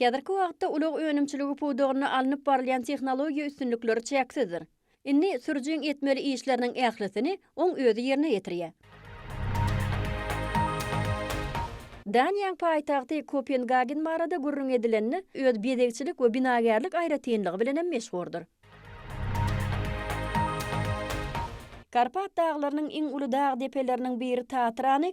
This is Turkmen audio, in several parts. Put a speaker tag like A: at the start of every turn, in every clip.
A: Häzirki wagtda ulag önümçiligi pudagynda alnyp barylýan tehnologiýa üstünlikleri çäksizdir. Indi sürüjiň etmeli işleriniň ählisini oň özi ýerine ýetirýär. Daniýaň paýtagty Kopengagen barada gürrüň edilende, öz bezegçilik we binagärlik aýratynlygy bilen hem meşhurdyr. Karpat daglarynyň iň uly dag depeleriniň biri Tatrany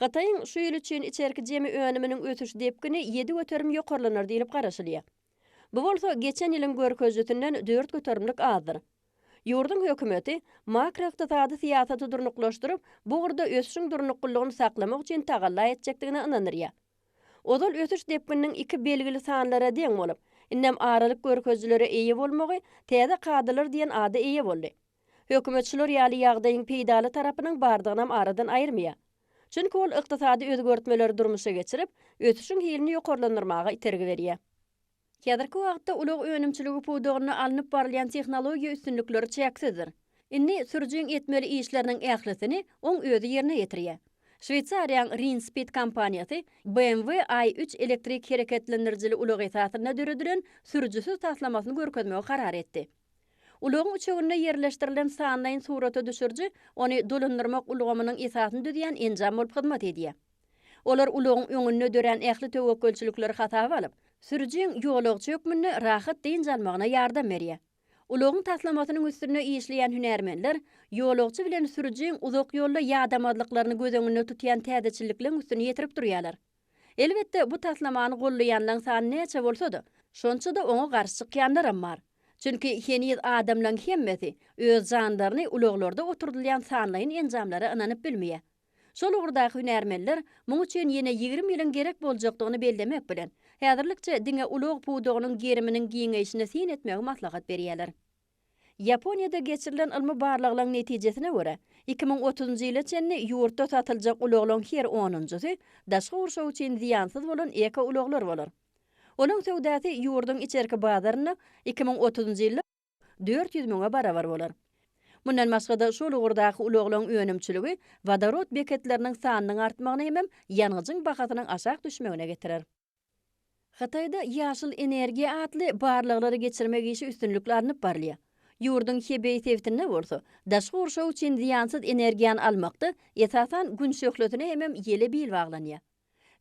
A: Hytaýyň şu ýyl üçin içerki jemi önüminiň ösüş depgini ýedi göterim ýokarlanar diýlip garaşylýar. Bu bolsa geçen ýylyň görkezijisinden dört göterimlik azdyr. Ýurduň hökümeti makroykdysady syýasaty durnuklaşdyryp, bu ugurda ösüşiň durnuklylygyny saklamak üçin tagalla etjekdigine ynandyrýar. Ozal ösüş depgininiň iki belgili sanlara deň bolup, indem aralyk görkezijileri eýe bolmagy täze kadalar diýen ada eýe boldy. Hökümet şular ýaly ýagdaýyň peýdaly tarapynyň bardygynam aradan aýyrmaýar. Çünki ol ykdysady özgertmeleri durmuşa geçirip, ösüşiň hilini ýokarlandyrmaga itergi berýär. Häzirki wagtda ulag önümçiligi pudagynda alnyp barylýan tehnologiýa üstünlikleri çäksizdir. Indi sürüjiň etmeli işleriniň ählisini oň özi ýerine ýetirýär. Şweýsariýaň Rinspeed kompaniýasy BMW I üç elektrik hereketlendirijili ulag esasynda döredilen sürüjisiz taslamasyny görkezmegi karar etdi. Ulagyň üçeginde ýerleşdirilen sanlaýyn surata düşüriji ony dolandyrmak ulgamynyň esasyny düzýän enjam bolup hyzmat edýär. Olar ulagyň öňünde dörän ähli töwekgelçilikleri hasaba alyp, sürüjiň ýolagçy hökmünde rahat dynç almagyna ýardam berýär. Ulagyň taslamasynyň üstünde işleýän hünärmenler ýolagçy bilen sürüjiň uzak ýolda ýadamazlyklaryny göz öňünde tutýan täzeçillikleň üstüni ýetirip durýarlar. Elbetde, bu taslamany gollaýanlaň sany näçe bolsa-da, şonça-da oňa garşy çykýanlaram bar. Çünki heniz adamlaň hemmesi öz janlaryny ulaglarda oturdylýan sanlaýyn enjamlara ynanyp bilmeýär. Şol ugurdaky hünärmenler muň üçin ýene ýigrimi ýylyň gerek boljakdygyny bellemek bilen, häzirlikçe diňe ulag pudagynyň geriminiň giňeýşine syn etmegi maslahat berýärler. Ýaponiýada geçirilen ylmy barlaglaň netijesine görä, iki müň otuzynjy ýyla çenli ýurtda satyljak ulaglaň her onunjysy daşky gurşaw üçin zyýansyz bolan ekoulaglar bolar. Olaň söwdasy ýurduň içerki bazarynda iki müň otuzynjy ýylda dört ýüz müňe barabar bolar. Mundan başga-da, şol ugurdaky ulaglaň önümçiligi wodorod beketleriniň sanynyň artmagyna hemem ýangyjyň bahasynyň aşak düşmegine getirer. Hytaýda ýaşyl energiýa atly barlaglary geçirmek işi üstünlikli alnyp barylýar. Ýurduň Hebeý sebitinde bolsa, daşky gurşaw üçin zyýansyz energiýany almakda, esasan, Gün şöhlesine hemem ýele bil baglanýar.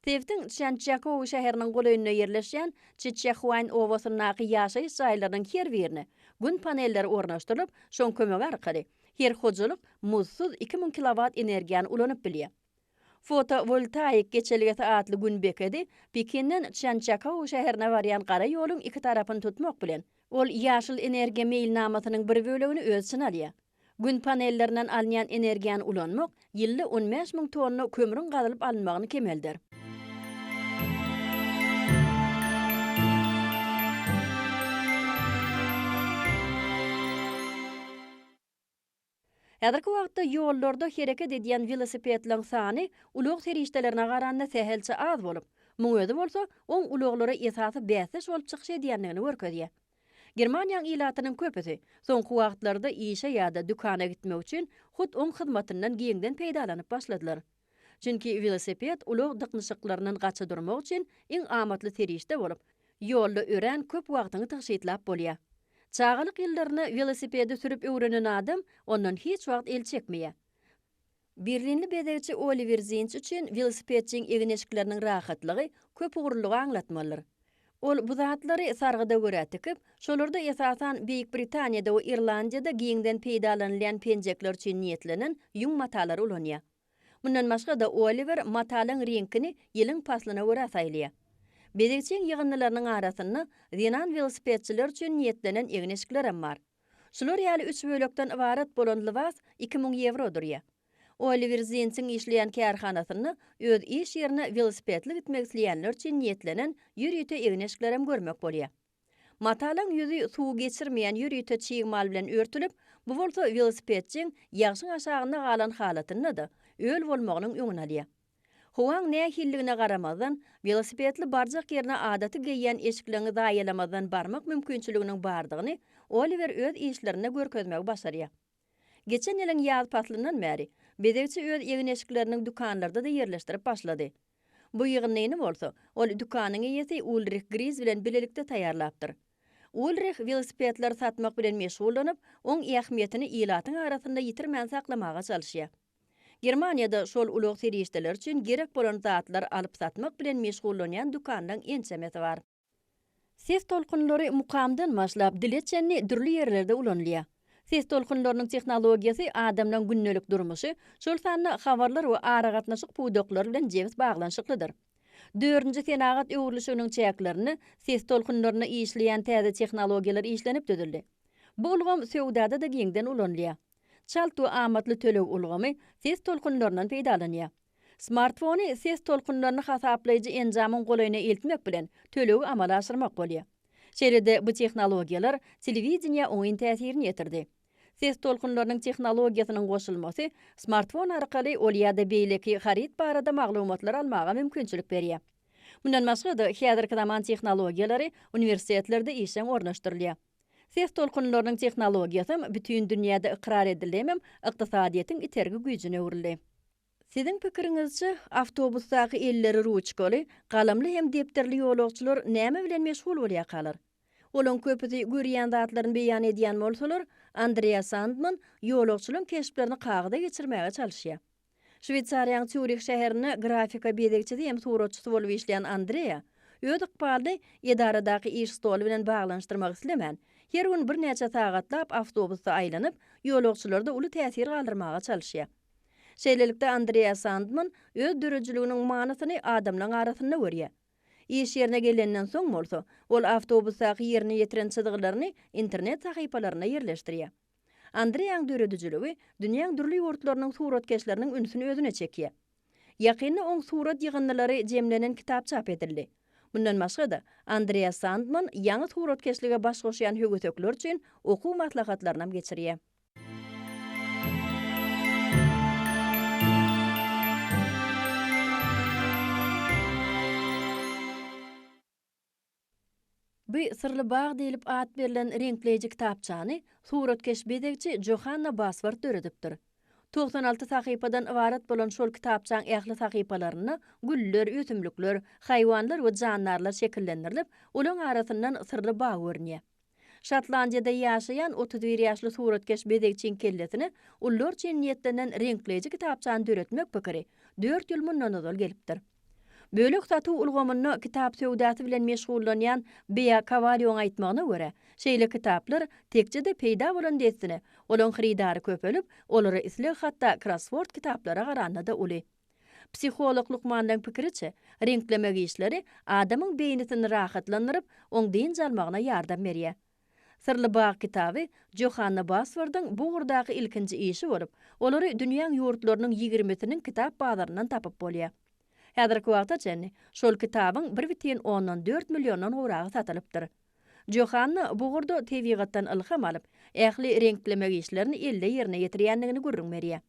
A: Sebitiň Çžançžakou şäheriniň golaýynda ýerleşýän Çiçehuaýn obasyndaky ýaşaýyş jaýlarynyň her birine Gün panelleri ornaşdyrylyp, şoň kömegi arkaly her hojalyk muzdsuz iki müň kilowat energiýany ulanyp bilýär. Fotowoltaik geçelgesi atly Gün bekedi Pekinden Çjançjakou şäherine barýan gara ýoluň iki tarapyny tutmak bilen, ol ýaşyl energiýa meýilnamasynyň bir bölegini öz içine alýar. Gün panellerinden alynýan energiýany ulanmak ýylda on bäş müň tonna kömrüň gazylyp alynmagyny kemeldär. Häzirki wagtda ýollarda hereket edýän welosipedleriň sany ulag serişdelerine garanda sähelçe az bolup, muň özi bolsa oň ulaglara esasy bäsdeş bolup çykyş edýändigini görkezýär. Germaniýaň ilatynyň köpüsi soňky wagtlarda işe ýa-da dükana gitmek üçin hut oň hyzmatyndan giňden peýdalanyp başladylar. Çünki welosiped ulag dyknyşyklaryndan gaça durmak üçin iň amatly serişde bolup, ýolda örän köp wagtyňy tygşytlap bolýar. Çagalyk ýyllarynda welosipedi sürüp öwrenen adam ondan hiç wagt el çekmeýär. Berlinli bezegçi Oliwer Zinç üçin welosipedçiň egin-eşikleriniň rahatlygy köpugurlylygy aňlatmalydyr. Ol bu zatlary sargyda görä tikip, şolarda esasan Beýik Britaniýada we Irlandiýada giňden peýdalanylýan penjekler üçin niýetlenen ýüň matalary ulanýar. Mundan başga-da Oliwer matalyň reňkini ýylyň paslyna görä saýlaýar. Bezegçiň ýygyndylarynyň arasynda zenan welosipedçiler üçin niýetlenen egin-eşiklerem bar. Şular ýaly üç bölekden ybarat bolan lybas iki müň ýewro durýar. Oliwer Zinsiň işleýän kärhanasynda öz iş ýerine welosipedli gitmek isleýänler üçin niýetlenen ýörite egin-eşiklerem görmek bolýar. Matalaň ýüzi suwy geçirmeýän ýörite çig mal bilen örtülip, bu bolsa welosipedçiň ýagşyň aşagynda galan halatynda-da, öl bolmagynyň öňüni alýar. Howaň nähilligine garamazdan, welosipedli barjak ýerine adaty geýýän eşikleňi zaýalamazdan barmak mümkinçiliginiň bardygyny Oliwer öz işlerinde görkezmegi başarýar. Geçen ýylyň ýaz paslyndan bäri, bezegçi öz egin-eşiklerini dükanlarda-da ýerleşdirip başlady. Bu ýygyndyny bolsa, ol dükanyň eýesi Ulrih Griz bilen bilelikde taýýarlapdyr. Ulrih welosipedleri satmak bilen meşgullanyp, oň ähmiýetini ilatyň arasynda ýitirmän saklamaga çalyşýar. Germaniýada şol ulag serişdeleri üçin gerek bolan zatlary alyp-satmak bilen meşgullanýan dükanlaryň ençemesi bar. Ses tolkunlary mukamdan başlap, dile çenli dürli ýerlerde ulanylýar. Ses tolkunlarynyň tehnologiýasy adamlaryň gündelik durmuşy, şol sanda habarlar we aragatnaşyk pudaklary bilen jebis baglanyşyklydyr. Dördünji senagat öwrülişiginiň çäklerinde ses tolkunlarynda işleýän täze tehnologiýalar işlenip düzüldi. Bu ulgam söwdada-da giňden ulanylýar. Çalt we amatly töleg ulgamy ses tolkunlaryndan peýdalanýar. Smartfony ses tolkunlaryny hasaplaýjy enjamyň golaýyna eltmek bilen tölegi amala aşyrmak bolýar. Şeýle-de bu tehnologiýalar telewideniýä oňyn täsirini ýetirdi. Ses tolkunlarynyň tehnologiýasynyň goşulmasy smartfon arkaly ol ýa-da beýleki haryt barada maglumatlary almaga mümkinçilik berýär. Mundan başga-da, häzirki zaman tehnologiýalary uniwersitetlerde işjeň ornaşdyrylýar. Ses tolkunlarynyň tehnologiýasam bütin dünýäde ykrar edildi hemem ykdysadyýetiň itergi güýjüne öwrüldi. Siziň pikiriňizçe, awtobusdaky elleri ruçkaly, galamly hem depderli ýolagçylar näme bilen meşgul bolýakalar? Olaň köpüsi görýän zatlaryny beýan edýän bolsalar, Andreas Sandman ýolagçylaň keşplerini kagyza geçirmäge çalyşýar. Şweýsariýanyň Sýurih şäherinde grafika bezegçisi hem suratçysy bolup işleýän Andrea, öz ykbalyny edaradaky iş stoly bilen baglanyşdyrmak islemän, her gün birnäçe sagatlap awtobusda aýlanyp, ýolagçylarda uly täsir galdyrmaga çalyşýar. Şeýlelikde, Andrea Sandman öz döredijiliginiň manysyny adamlaryň arasynda görýär. Iş ýerine gelenden soň bolsa, ol awtobusdaky ýerine ýetiren çyzgylaryny internet sahypalarynda ýerleşdirýär. Andreýaň döredijiligi dünýäň dürli ýurtlarynyň suratkeşleriniň ünsüni özüne çekýär. Ýakynda oň surat ýygyndylary jemlenen kitap çap edildi. Mundan başga-da, Andreýa Sandman ýaňy suratkeşlige baş goşýan högesekler üçin okuw maslahatlarynam geçirýär. Bu Syrly bag diýlip at berlen reňkleýji kitapçany suratkeş bezegçi Johanna Baswart döredipdir. Togsan alty sahypadan ybarat bolan şol kitapçaň ähli sahypalarynda güller, ösümlikler, haýwanlar we jandarlar şekillendirilip, olaryň arasyndan syrly bag görünýär. Şotlandiýada ýaşaýan otuz bir ýaşly suratkeş bezegçiň kellesine ullur üçin niýetlenen reňkleýji kitapçany döretmek pikiri dört ýyl mundan ozal gelipdir. Bölek-satuw ulgamynda kitap söwdasy bilen meşgullanýan Bea Kowalýowyň aýtmagyna görä, şeýle kitaplar tekje-de peýda bolan dessine, olaň hyrydary köpelip, olara isleg hatda krossword kitaplara garanda-da uly. Psiholog lukmanlaryň pikiriçe, reňklemek işleri adamyň beýnisini rahatlandyryp, oň dynç almagyna ýardam berýär. Syrly bag kitaby Johanna Basfordyň bu ugurdaky ilkinji işi bolup, olary dünýäň ýurtlarynyň ýigrimisiniň kitap bazaryndan tapyp bolýar. Häzirki wagta çenli şol kitabyň bir bütin ondan dört milliondan gowragy satylypdyr. Johanna bu ugurda tebigatdan ylham alyp, ähli reňklemek işlerini elde ýerine ýetirýändigini gürrüň berýär.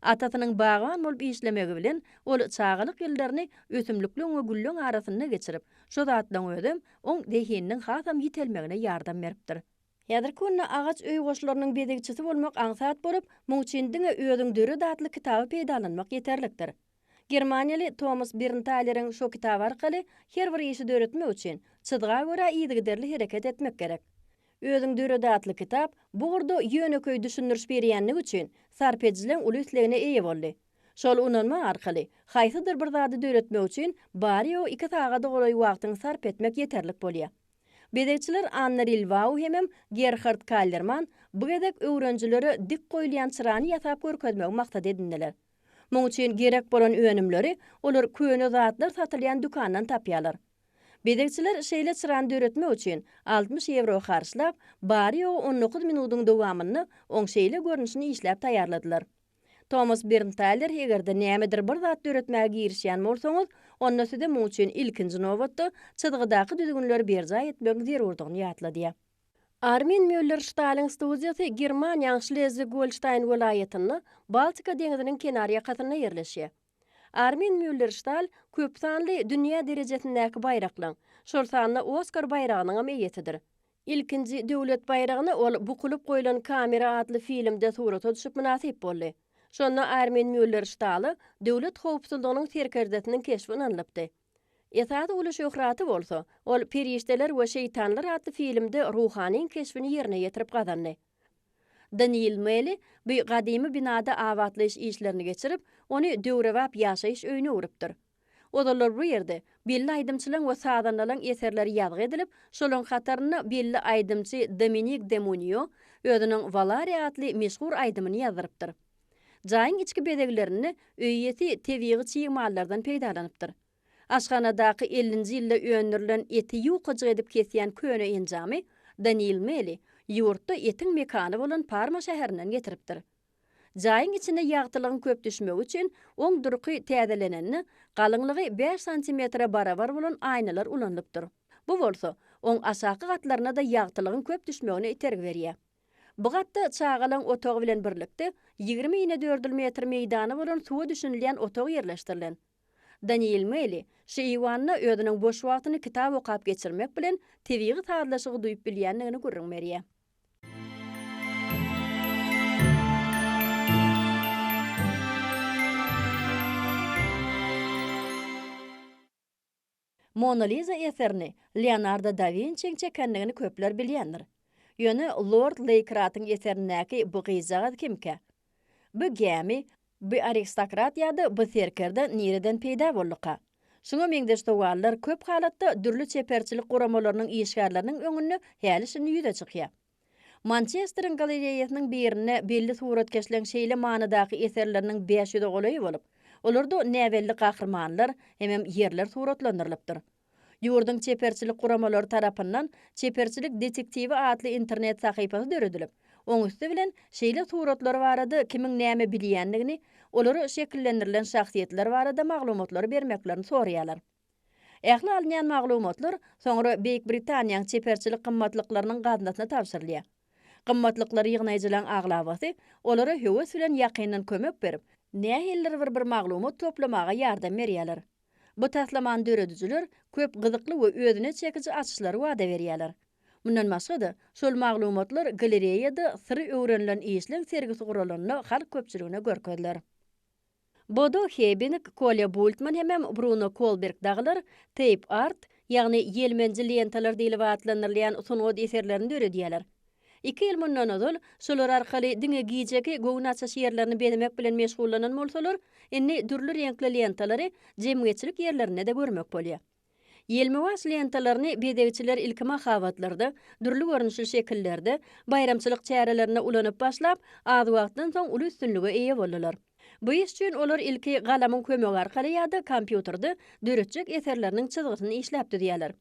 A: Atasynyň bagban bolup işlemegi bilen, ol çagalyk ýyllaryny ösümlikleň we gülleň arasynda geçirip, şu zatlaryň özem oň zehininiň hasam ýitelmegine ýardam beripdir. Häzirki günde agaç öý goşlarynyň bezegçisi bolmak aňsat bolup, muň üçin diňe Özüň döret atly kitaby peýdalanmak ýeterlikdir. Germaniýaly Tomas Berntaýleriň şo kitaby arkaly her bir işi döretmek üçin çyzga görä yzygiderli hereket etmek gerek. Özüň döret atly kitap bu ugurda ýönekeý düşündiriş berýänligi üçin sarp edijileriň uly islegine eýe boldy. Şol unanma arkaly haýsydyr bir zady döretmek üçin bary-ýogy iki sagada golaý wagtyňy sarp etmek ýeterlik bolýar. Bezegçiler Anna Rilwau hemem Gerhard Kallerman bu gezek öwrenijilere dik goýulýan çyrany ýasap görkezmegi maksat edindiler. Muň üçin gerek bolan önümleri olar köne zatlar satylýan dükandan tapýarlar. Bezegçiler şeýle çyrany döretmek üçin altmyş ýewro harçlap, bary-ýogy on dokuz minudyň dowamynda oň şeýle görnüşini işläp taýýarladylar. Tomas Berntaler Eger-de nämedir bir zat döretmäge girişýän bolsaňyz, onda size muň üçin ilkinji nobatda çyzgydaky düzgünleri berjaý etmegiň zerurdygyny ýatladýar. Armin Mýuller-Ştalyň studiýasy Germaniýaň Şlezwig-Golştaýn welaýatynda, Baltika deňziniň kenar ýakasynda ýerleşýär. Armin Mýuller-Ştal köp sanly dünýä derejesindäki baýraklaň, şol sanda Oskar baýragynyňam eýesidir. Ilkinji döwlet baýragyna ol Bukulyp goýlan kamera atly filmde surata düşüp mynasyp boldy. Şonda Armin Mýuller-Ştala Döwlet howpsuzlygynyň serkerdesiniň keşbi ynanylypdy. Esasy uly şöhraty bolsa, ol Perişdeler we şeýtanlar atly filmde ruhanyň keşbini ýerine ýetirip gazandy. Deniýl Meli bu gadymy binada abatlaýyş işlerini geçirip, ony döwrebap ýaşaýyş öýüne öwrüpdir. Ozallar bu ýerde belli aýdymçylaň we sazandalaň eserleri ýazgy edilip, şolaň hatarynda belli aýdymçy Dominik Demunio özüniň Valare atly meşhur aýdymyny ýazdyrypdyr. Jaýyň içki bezeglerinde öý iýesi tebigy çig mallardan peýdalanypdyr. Aşhanadaky ellinji ýylda öndürilen eti ýukajyk edip kesýän köne enjamy Daniil Meli ýurtda etiň mekany bolan Parma şäherinden getiripdir. Jaýyň içine ýagtylygyň köp düşmegi üçin oň durky täzelenende galyňlygy bäş santimetre barabar bolan aýnalar ulanylypdyr. Bu bolsa oň aşaky gatlaryna-da ýagtylygyň köp düşmegine itergi berýär. Bu gatda çagalaň otagy bilen birlikde ýigrimi inedördül metr meýdany bolan suwa düşünilýän otag ýerleşdirilen. Daniel Meli şu eýwanda özüniň boş wagtyny kitap okap geçirmek bilen tebigy sazlaşygy duýup bilýändigini gürrüň berýär. Mona Liza eserini Leonardo da Winçiň çekendigini köpler bilýändir. Ýöne lord Leýkratyň eserindäki bu gyzjagaz kimkä? Bu gämi, bu aristokrat ýa-da bu serkerde nireden peýda bolduka? Şuňa meňzeş sowallar köp halatda dürli çeperçilik guramalarynyň işgärleriniň öňünde häli-şindi ýüze çykýar. Mançesteriň galereýasynyň birinde belli suratkeşleň şeýle manydaky eserleriniň bäş ýüze golaýy bolup, olarda näbelli gahrymanlar hemem ýerler suratlandyrylypdyr. Ýurduň çeperçilik guramalary tarapyndan Çeperçilik detektiwi atly internet sahypasy döredilip, oň üsti bilen şeýle suratlar barada kimiň näme bilýändigini, olary şekillendirilen şahsyýetler barada maglumatlary bermeklerini soraýarlar. Ähli alynýan maglumatlar soňra Beýik Britaniýaň çeperçilik gymmatlyklarynyň gaznasyna tabşyrylýar. Gymmatlyklary ýygnaýjylaň aglabasy olara höwes bilen ýakyndan kömek berip, nähilidir bir bir maglumat toplamaga ýardam berýärler. Bu taslamany döredijiler köp gyzykly we özüne çekiji açyşlary wada berýärler. Mundan başga-da, şol maglumatlar galereýada Syry öwrenilen işleň sergisi guralanda halk köpçüligine görkeziler. Bodo Hebinig, Kolýa Bultman hemem Bruno Kolberg dagylar teýp art, ýagny ýelmenji lentalar diýlip atlandyrylýan sungat eserlerini döredýärler. Iki ýyl mundan ozal şolar arkaly diňe gijeki göwün açyş ýerlerini bezemek bilen meşgullanan bolsalar, indi dürli reňkli lentalary jemgyýetçilik ýerlerinde-de görmek bolýar. Ýelmewaç lentalaryny bezegçiler ilki mahabatlarda, dürli görnüşli şekillerde, baýramçylyk çärelerinde ulanyp başlap, az wagtdan soň uly üstünlige eýe boldular. Bu iş üçin olar ilki galamyň kömegi arkaly ýa-da kompýuterde döretjek eserleriniň çyzgysyny işläp düzýärler.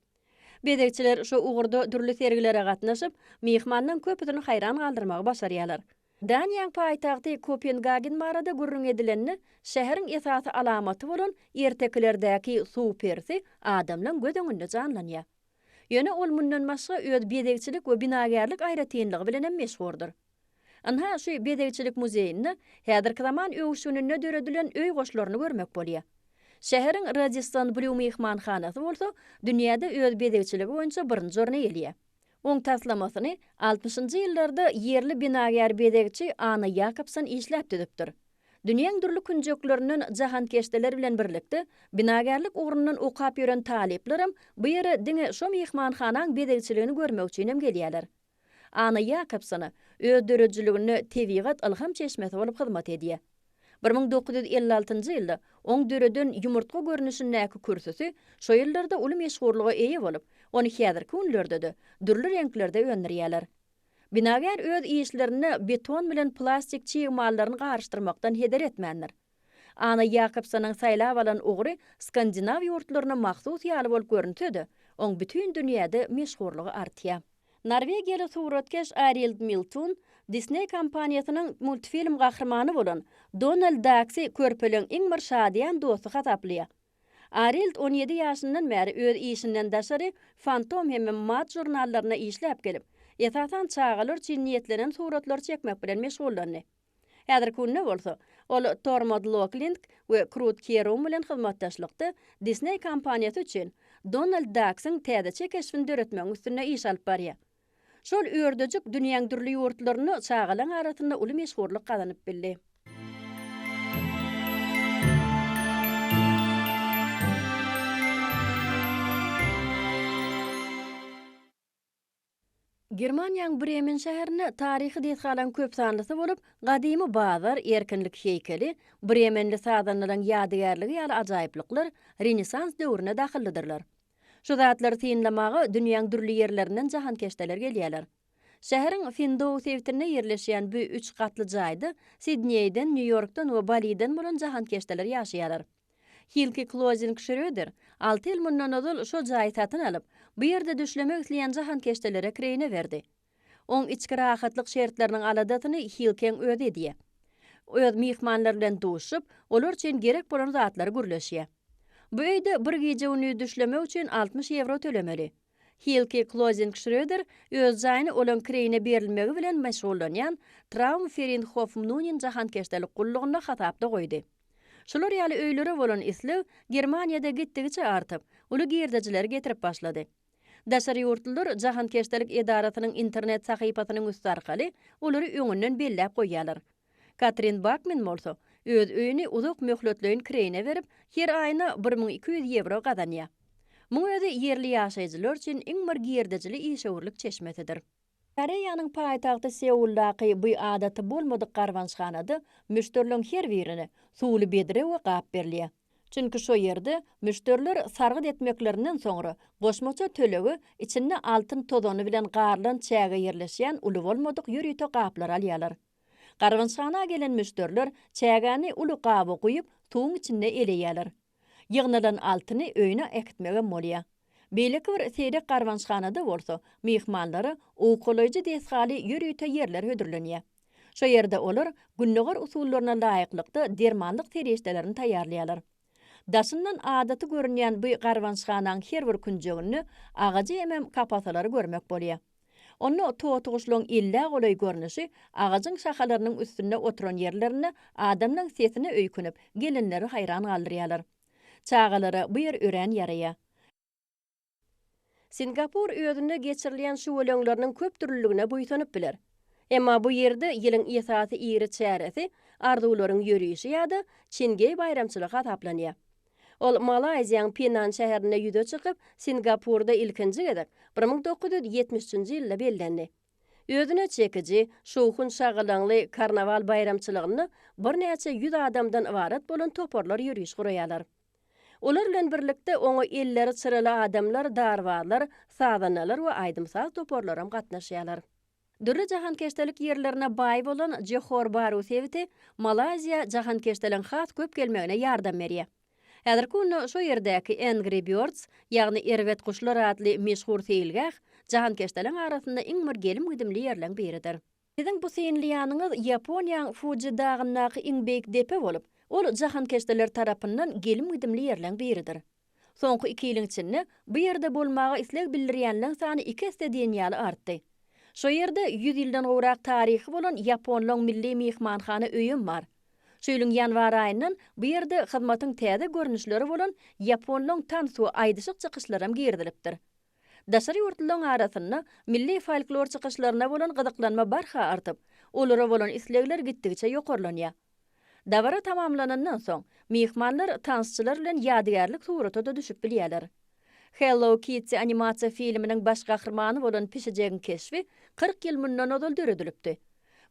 A: Bezegçiler şu ugurda dürli sergilere gatnaşyp, myhmanlaryň köpüsini haýran galdyrmagy başarýarlar. Daniýaň paýtagty Kopengagen barada gürrüň edilende, şäheriň esasy alamaty bolan ertekilerdäki suw perisi adamlaň göz öňünde janlanýar. Ýöne ol mundan başga öz bezegçilik we binagärlik aýratynlygy bilen hem meşhurdyr. Ynha, şu bezegçilik muzeýinde häzirki zaman öwüşgininde döredilen öý goşlaryny görmek bolýar. Şäheriň Radisson Blýu myhmanhanasy bolsa dünýäde öz bezegçiligi boýunça birinji orny eýeleýär. Oň taslamasyny altmyşynjy ýyllarda ýerli binagär bezegçi Anna Ýakobson işläp düzüpdir. Dünýäň dürli künjeklerinden jahankeşdeler bilen birlikde, binagärlik ugrundan okap ýören talyplaram bu ýere diňe şo myhmanhanaň bezegçiligini görmek üçinem gelýärler. Anna Ýakobsona öz döredijiliginde tebigat ylham çeşmesi bolup hyzmat edýär. Bir müň dokuz ýüz elli altynjy ýylda oň döreden ýumurtga görnüşindäki kürsüsi şo ýyllarda uly meşhurlyga eýe bolup, ony häzirki günlerde-de dürli reňklerde öndürýärler. Binagär öz işlerinde beton bilen plastik çig mallaryny garyşdyrmakdan heder etmändir. Anna Ýakobsonyň saýlap alan ugry skandinaw ýurtlaryna mahsus ýaly bolup görünse-de, oň bütin dünýäde meşhurlygy artýar. Norwegiýaly suratkeş Arild Miltun Disney kompaniýasynyň multfilm gahrymany bolan Donald Daksy körpeleň iň bir şadyýan dosty hasaplaýar. Arild on ýedi ýaşyndan bäri öz işinden daşary Fantom hem-de Mad žurnallaryna işläp gelip, esasan çagalar üçin niýetlenen suratlary çekmek bilen meşgullandy. Häzirki günde bolsa, ol Tor Modloklind we Krut Kierum bilen hyzmatdaşlykda Disney kompaniýasy üçin Donald Daksyň täzeçe keşbini döretmegiň üstünde iş alyp barýar. Şol ördejik dünýäň dürli ýurtlarynda çagalaň arasynda uly meşhurlyk gazanyp bildi. Germaniýanyň Bremen şäherinde taryhy desgalaryň köp sanlysy bolup, gadymy bazar, Erkinlik heýkeli, bremenli sazandalaryň ýadygärligi ýaly ajaýyplyklar Renesans döwrüne dahyllydyrlar. Şu zatlary synlamaga dünýäň dürli ýerlerinden jahankeşdeler gelýärler. Şäheriň Findow sebitinde ýerleşýän bu üç gatly jaýda Sidneýden, Nýu-Ýorkdan we Baliden bolan jahankeşdeler ýaşaýarlar. Hilki Klozing Şröder alty ýyl mundan ozal şol jaýy satyn alyp, bu ýerde düşlemek isleýän jahankeşdelere kireýine berdi. Oň içki rahatlyk şertleriniň aladasyny Hilkiň özi edýär. Öz myhmanlar bilen duşup, olar üçin gerek bolan zatlary gürleşýär. Bu öýde bir gije-gündiz düşlemek üçin altmyş ýewro tölemeli. Hilki Klozing-Şröder öz jaýyny olaň kireýine berilmegi bilen meşgullanýan Traum Ferienhof-Mnunin jahankeşdelik gullugyna hasapda goýdy. Şular ýaly öýlere bolan isleg Germaniýada gitdigiçe artyp, uly girdejileri getirip başlady. Daşary ýurtlular jahankeşdelik edarasynyň internet sahypasynyň üsti arkaly olary öňünden belläp goýýarlar. Katrin Bakmen bolsa, öz öýüni uzak möhletleýin kireýine berip, her aýyna bir müň iki ýüz ýewro gazanýar. Muň özi ýerli ýaşaýjylar üçin iň bir girdejili işewürlik çeşmesidir. Koreýanyň paýtagty Seuldaky bu adaty bolmadyk garbanyşhanada müşderileriň her birine suwly bedre we gap berilýär. Çünki şo ýerde müşderiler sargyt etmeklerinden soňra goşmaça tölegi içinde altyn tozany bilen garylan çäge ýerleşýän uly bolmadyk ýörite gaplary alýarlar. Garbançhana gelen müşderiler çägäni uly gaba guýup, suwuň içinde eleýärler. Ýygnalan altyny öýüne äkitmegem bolýar. Beýleki bir seýrek garbançhanada bolsa myhmanlara owkalaýjy desgaly ýörite ýerler hödürlenýär. Şo ýerde olar gündogar usullaryna laýyklykda dermanlyk serişdelerini taýýarlaýarlar. Daşyndan adaty görünýän bu garbançhanaň her bir künjeginde agajy hemem kapasalary görmek bolýar. Onda totyguşlaryň illä golaý görnüşi agajyň şahalarynyň üstünde oturan ýerlerinde adamlaryň sesine öýkünip, gelinleri haýran galdyrýarlar. Çagalara bu ýer örän ýaraýar. Singapur özünde geçirilýän şüweleňleriniň köpdürlüligine buýsanyp biler. Emma bu ýerde ýylyň esasy iri çäresi arzuwlaryň ýörişi ýa-da Çingeý baýramçylygy hasaplanýar. Ol Malaýziýaň Penan şäherinde ýüze çykyp, Singapurda ilkinji gezek bir müň dokuz ýüz ýetmiş üçünji ýylda bellendi. Özüne çekiji, şowhun-şagalaňly karnawal baýramçylygynda birnäçe ýüz adamdan ybarat bolan toparlar ýöriş guraýarlar. Olar bilen birlikde oňa elleri çyraly adamlar, darbazlar, sazandalar we aýdym-saz toparlaram gatnaşýarlar. Dürli jahankeşdelik ýerlerine baý bolan Johor Baru sebiti Malaýziýa jahankeşdeligiň has köp gelmegine ýardam berýär. Häzirki günde şo ýerdäki Angry Birds, ýagny Erbet guşlar atly meşhur seýilgäh jahankeşdeligiň arasynda iň bir gelim-gidimli ýerleň biridir. Siziň bu synlaýanyňyz Ýaponiýaň Fuji dagyndaky iň beýik depe bolup, ol jahankeşdeler tarapyndan gelim-gidimli ýerleň biridir. Soňky iki ýylyň içinde bu ýerde bolmaga isleg bildirýänleň sany iki esse diýen ýaly artdy. Şo ýerde ýüz ýyldan gowrak taryhy bolan ýaponlaň milli myhmanhana öýem bar. Şu ýylyň ýanwar aýyndan bu ýerde hyzmatyň täze görnüşleri bolan ýaponlaň tansu aýdyşyk çykyşlaram girizilipdir. Daşary ýurtlularyň arasynda milli folklor çykyşlaryna bolan gyzyklanma barha artyp, olara bolan islegler gitdigiçe ýokarlanýar. Dabara tamamlanandan soň, myhmanlar tansçylar bilen ýadygärlik surata-da düşüp bilýärler. Hello Kitty animasiýa filminiň baş gahrymany bolan pişijegiň keşbi kyrk ýyl mundan ozal döredilipdi.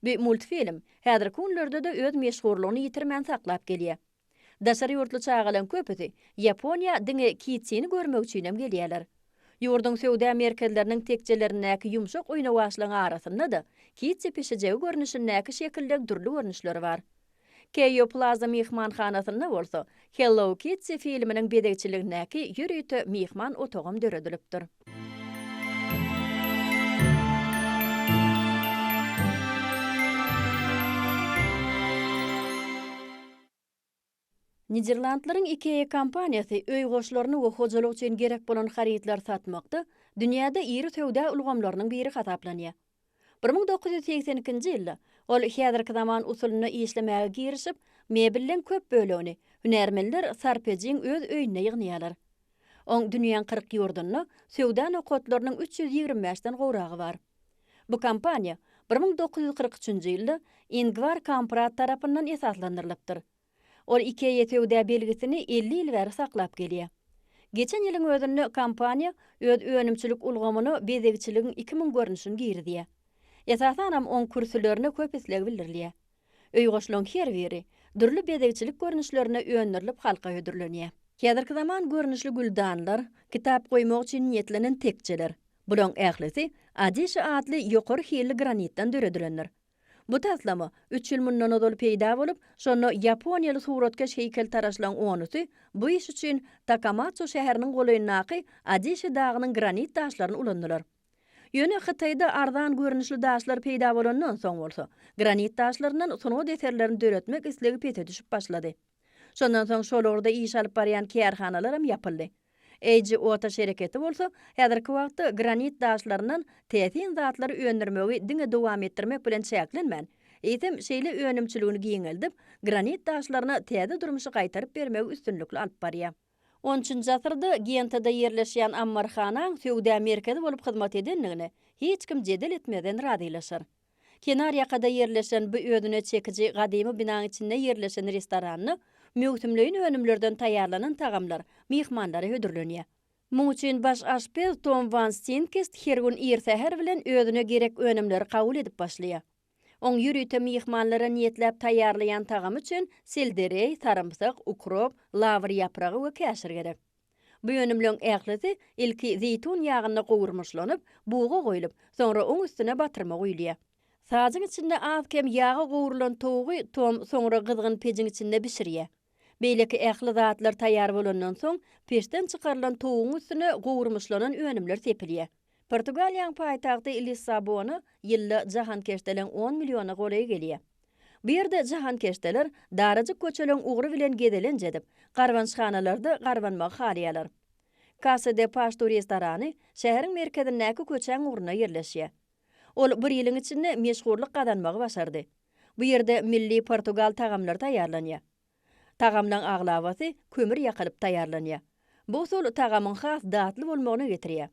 A: Bu multfilm häzirki günlerde-de öz meşhurlygyny ýitirmän saklap gelýär. Daşary ýurtly çagalaň köpüsi Ýaponiýa diňe Kitini görmek üçinem gelýärler. Ýurduň söwda merkezleriniň tekjelerindäki ýumşak oýnawaçlaň arasynda-da Kiti pişijegi görnüşindäki şekildeň dürli görnüşleri bar. Keýo Plaza myhmanhanasynda bolsa Hello Kitty filminiň bezegçiligindäki ýörite myhman otagam döredilipdir. Niderlandlaryň IKEA kompaniýasy öý goşlaryny we hojalyk üçin gerek bolan harytlary satmakda dünýäde iri söwda ulgamlarynyň biri hasaplanýar. Bir müň dokuz ýüz segsen ikinji ýylda ol häzirki zaman usulynda işlemäge girişip, mebelleň köp bölegini hünärmenler Sarpejiň öz öýünde ýygnýarlar. Oň dünýäň kyrk ýurdunda söwda nokatlarynyň üç ýüz ýigrimi bäşden gowragy bar. Bu kompaniýa bir müň dokuz ýüz kyrk üçünji ýylda Ingvar Kamprad tarapyndan esaslandyrylypdyr. Ol IKEA söwda belgisini elli ýyl bäri saklap gelýär. Geçen ýylyň özünde kompaniýa öz önümçilik ulgamyna bezegçiligiň iki müň görnüşini girizýär. Esasanam oň kürsülerine köp isleg bildirilýär. Öýgoşlaryň her biri, dürli bezegçilik görnüşlerinde öndürilip halka hödürlenýär. Häzirki zaman görnüşli güldanlar, kitap goýmak üçin niýetlenen tekjeler. Bularyň ählisi Adişi atly ýokary hilli granitden döredilendir. Bu taslama üç ýyl mundan ozal peýda bolup, şonda ýaponiýaly suratkeş heýkeltaraşlaryň onusy bu iş üçin Takamatsu şäheriniň golaýyndaky Adişi dagynyň granit daşlaryny ulandylar. Ýöne Hytaýda arzan görnüşli daşlar peýda bolandan soň bolsa, granit daşlaryndan sungat eserlerini döretmek islegi pese düşüp başlady. Şondan soň şol ugurda iş alyp barýan kärhanalaram ýapyldy. HOTAŞ şereketi bolsa häzirki wagtda granit daşlaryndan täsin zatlary öndürmegi diňe dowam etdirmek bilen çäklenmän, eýsem şeýle önümçiligini giňeldip, granit daşlaryna täze durmuşy gaýtaryp bermegi üstünlikli alyp barýar. On üçünji asyrda Gentada ýerleşýän ammarhanaň söwda merkezi bolup hyzmat edendigine hiç kim jedel etmezden razylaşar. Kenar ýakada ýerleşen bu özüne çekiji gadymy binaň içinde ýerleşen restoranda möwsümleýin önümlerden taýýarlanan tagamlar myhmanlara hödürlenýär. Muň üçin baş aşpez Tom Wan Stinkist her gün ir säher bilen özüne gerek önümleri kabul edip başlaýar. Oň ýörite myhmanlara niýetläp taýýarlaýan tagamy üçin seldereý, sarymsak, ukrop, lawr ýapragy we käşir gerek. Bu önümleň ählisi ilki zeýtun ýagynda gowurmyşlanyp, buga goýlup, soňra oň üstüne batyrma guýulýar. Sazyn içinde az-kem ýaga gowrulan towugy Tom soňra gyzgyn pejiň içinde bişirýär. Beýleki ähli zatlar taýýar bolandan soň, peçden çykarylan towugyň üstüne gowurmyşlanan önümler sepilýär. Portugaliýaň paýtagty Lissabona ýylda jahankeşdeleň on milliona golaý gelýär. Bu ýerde jahankeşdeler darajyk köçeleň ugry bilen gezelenç edip, garbanyşhanalarda garbanmagy halaýarlar. Kasa de Paştu restorany şäheriň merkezindäki köçäň ugrunda ýerleşýär. Ol bir ýylyň içinde meşhurlyk gazanmagy başardy. Bu ýerde milli portugal tagamlary taýýarlanýar. Tagamlaň aglabasy kömür ýakylyp taýýarlanýar. Bu usul tagamyň has datly bolmagyna getirýär.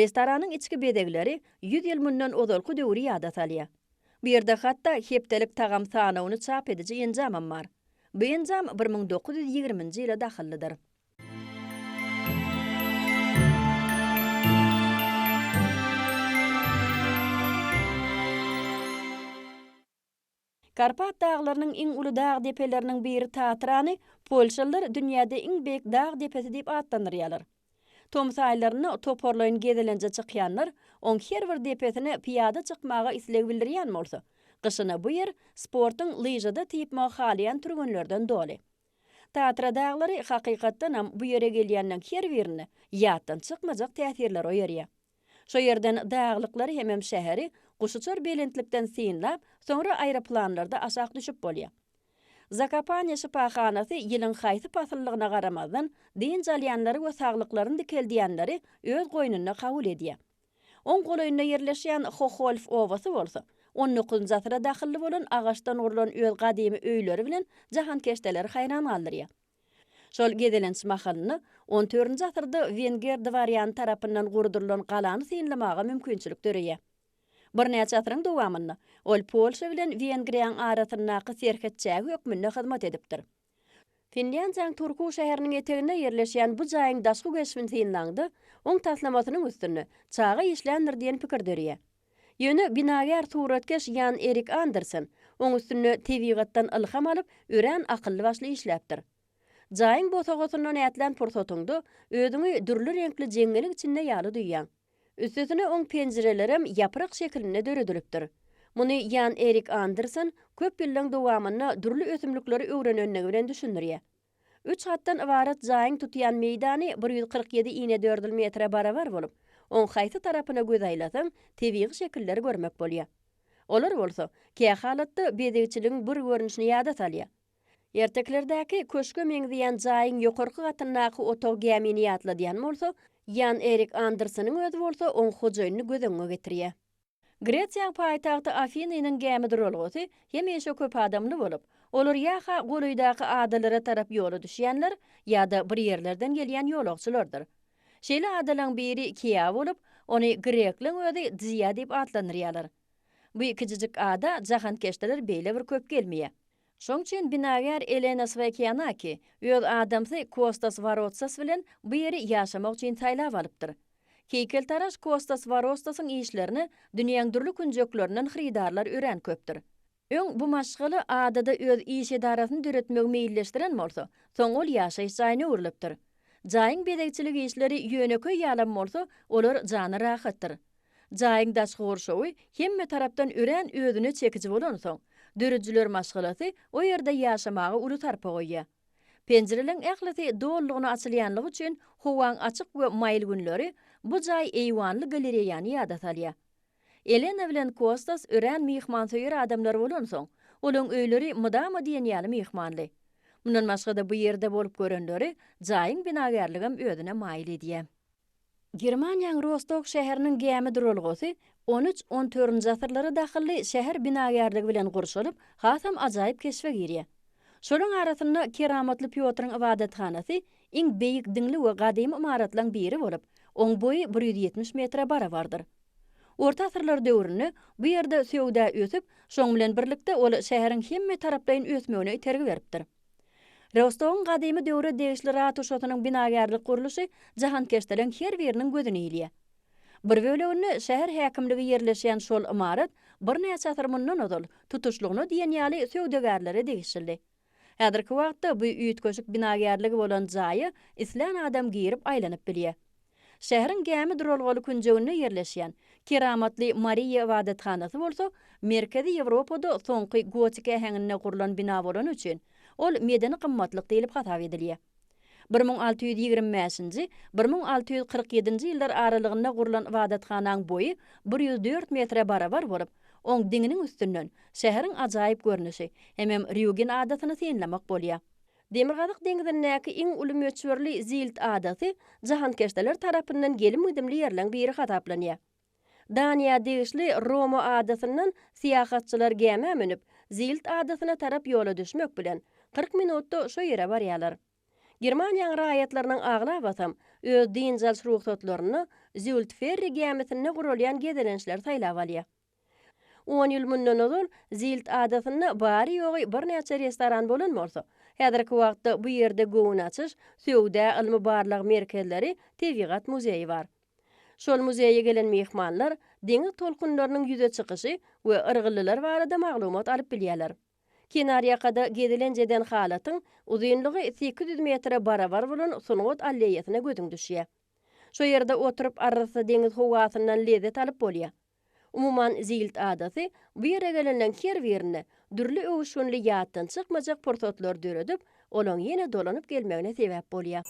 A: Restoranyň içki bezegleri ýüz ýyl mundan ozalky döwri ýada salýar. Bu ýerde hatda hepdelik tagam sanawyny çap ediji enjamam bar. Bu enjam bir müň dokuz ýüz ýigriminji ýyla dahyllydyr. Karpat daglarynyň iň uly dag depeleriniň biri Tatrany polşalylar dünýäde iň beýik dag depesi diýip atlandyrýarlar. Tomus aýlarynda toparlaýyn gezelenje çykýanlar oň her bir depesine pyýada çykmaga isleg bildirýän bolsa, gyşyna bu ýer sportuň lyžada typmagy halaýan türgenlerden doly. Tatra daglary hakykatdanam bu ýere gelýänleň her birinde ýatdan çykmajak täsirleri oýarýar. Şo ýerden daglyklary hemem şäheri guşuçar belentlikden synlap, soňra aeroplanlarda aşak düşüp bolýar. Zakopane şypahanasy ýylyň haýsy pasyllygyna garamazdan, dynç alýanlary we saglyklaryny dikeldýänleri öz goýnunda kabul edýär. Oň golaýynda ýerleşýän Hoholf obasy bolsa, on dokuzynjy asyra dahylly bolan agaçdan gurlan öz gadymy öýleri bilen jahankeşdeleri haýran galdyrýar. Şol gezelenç mahalynda on dördünji asyrda wenger dwarýany tarapyndan gurdurylan galany synlamaga mümkinçilik döreýär. Birnäçe asyryň dowamynda ol Polşa bilen Wengriýaň arasyndaky serhet çägi hökmünde hyzmat edipdir. Finlýandiýanyň Turku şäheriniň eteginde ýerleşýän bu jaýyň daşky keşbini synlaňda, oň taslamasynyň üstünde çaga işländir diýen pikir döreýär. Ýöne binagär suratkeş Ýan Erik Andersen oň üstünde tebigatdan ylham alyp, örän akylly-başly işläpdir. Jaýyň bosagasyndan ätlän pursatyňda özüňi dürli reňkli jeňňeliň içinde ýaly duýýaň. Üstesine oň penjirelerem ýaprak şekilinde döredilipdir. Muny Ýan Erik Andersen köp ýyllaň dowamynda dürli ösümlikleri öwrenenligi bilen düşündirýär. Üç gatdan ybarat jaýyň tutýan meýdany bir ýüz kyrk ýedi inedördül metre barabar bolup, oň haýsy tarapyna göz aýlasaň, tebigy şekilleri görmek bolýar. Olar bolsa, kä halatda bezegçiligiň bir görnüşini ýada salýar. Ertekilerdäki köşge meňzeýän jaýyň ýokarky gatyndaky otag gämini ýatladýan bolsa, Ýan Erik Anderseniň özi bolsa oň hojaýynyny göz öňüňe getirýär. Gresiýaň paýtagty Afiny-nyň gämi duralgasy hemişe köp adamly bolup, olar ýa-ha golaýdaky adalara tarap ýola düşýänler, ýa-da bir ýerlerden gelýän ýolagçylardyr. Şeýle adalaň biri Kiýa bolup, ony grekleň özi Dziýa diýip atlandyrýarlar. Bu kijijik ada jahankeşdeler beýle bir köp gelmeýär. Şoň üçin binagär Elena Swaykianaki öz adamsy Kostas Warotsas bilen bu ýeri ýaşamak üçin saýlap alypdyr. Heýkeltaraş Kostas Warostasyň işlerine dünýäň dürli künjeklerinden hyrydarlar örän köpdür. Öň bu maşgala adada öz iş edarasyny döretmegi meýilleşdiren bolsa, soň ol ýaşaýyş jaýyna öwrülipdir. Jaýyň bezegçilik işleri ýönekeý ýalam bolsa, olar jana rahatdyr. Jaýyň daşky gurşawy hemme tarapdan örän özüne çekiji bolansoň, döredijiler maşgalasy o ýerde ýaşamaga uly sarpa goýýar. Penjireleriň ählisi dolulygyna açylýanlygy üçin howaň açyk we maýyl günleri bu jaý eýwanly galereýany ýada salýar. Elena bilen Kostas örän myhmansöýer adamlar bolansoň, olaryň öýleri mydama diýen ýaly myhmanly. Mundan başga-da bu ýerde bolup görenleri jaýyň binagärligem özüne maýyl edýär. Germaniýaň Rostok şäheriniň gämi duralgasy on üç, on törünji asyrlara dahylly şäher binagärligi bilen gurşalyp, hasam ajaýyp keşbe girýär. Şolaryň arasynda Keramatly Pýotryň ybadathanasy iň beýik diňli we gadymy ymaratlaryň biri bolup, oň boýy bir ýüz ýetmiş metre barabardyr. Orta asyrlar döwründe bu ýerde söwda ösüp, şoň bilen birlikde ol şäheriň hemmetaraplaýyn ösmegine itergi beripdir. Rostowyň gadymy döwre degişli ratuşasynyň binagärlik gurluşy jahankeşleriň her biriniň gözüni ilýär. Bir böleginde şäher häkimligi ýerleşýän şol ymarat birnäçe asyr mundan ozal, tutuşlygyna diýen ýaly söwdagärlere degişildi. Häzirki wagtda bu üýtgeşik binagärligi bolan jaýa islän adam girip aýlanyp bilýär. Şäheriň gämi duralgaly künjeginde ýerleşýän Keramatly Mariýa ybadathanasy bolsa Merkezi Ýewropada soňky gotik äheňinde gurlan bina bolany üçin, ol medeni gymmatlyk diýlip hasap edilýär. Bir müň alty ýüz ýigrimi bäşinji, bir müň alty ýüz kyrk ýedinji ýyllar aralygynda gurlan ybadathanaň boýy bir ýüz dört metre barabar bolup, oň diňiniň üstünden şäheriň ajaýyp görnüşi, hemem Rýugen adasyny synlamak bolýar. Demirgazyk deňzindäki iň uly möçberli Zilt adasy jahankeşdeler tarapyndan gelim-gidimli ýerleň biri hasaplanýar. Daniýa degişli Roma adasyndan syýahatçylar gämä münüp, Zilt adasyna tarap ýola düşmek bilen, kyrk minutda şo ýere barýarlar. Germaniýaň raýatlarynyň aglabasam öz dynç alyş rugsatlaryny Zültferri gämisinde guralýan gezelençleri saýlap alýar. On ýyl mundan ozal Zilt adasynda bary-ýogy birnäçe restoran bolan bolsa, häzirki wagtda bu ýerde göwün açyş, söwda, ylmy-barlag merkezleri, tebigat muzeýi bar. Şol muzeýe gelen myhmanlar deňiz tolkunlarynyň ýüze çykyşy we yrgyllylar barada maglumat alyp bilýärler. Kenarýakada gezilenjeden halatyň uzynlygy sekiz ýüz metre barabar bolan sungat alleýasyna gözüň düşýär. Şo ýerde oturyp arassa deňiz howasyndan lezzet alyp bolýar. Umuman, Zilt adasy bu ýere gelenleň her birine dürli öwüşginli ýatdan çykmajak pursatlar döredip, olaň ýene dolanyp gelmegine sebäp bolýar.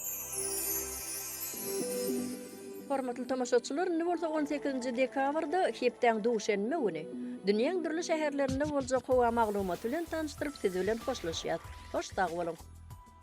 A: Hormatly tomaşaçylar, indi bolsa on sekizinji dekabrda, hepdäň duşenbe güni, dünýäň dürli şäherlerinde boljak howa maglumaty bilen tanyşdyryp siz bilen hoşlaşýas. Hoş sag boluň!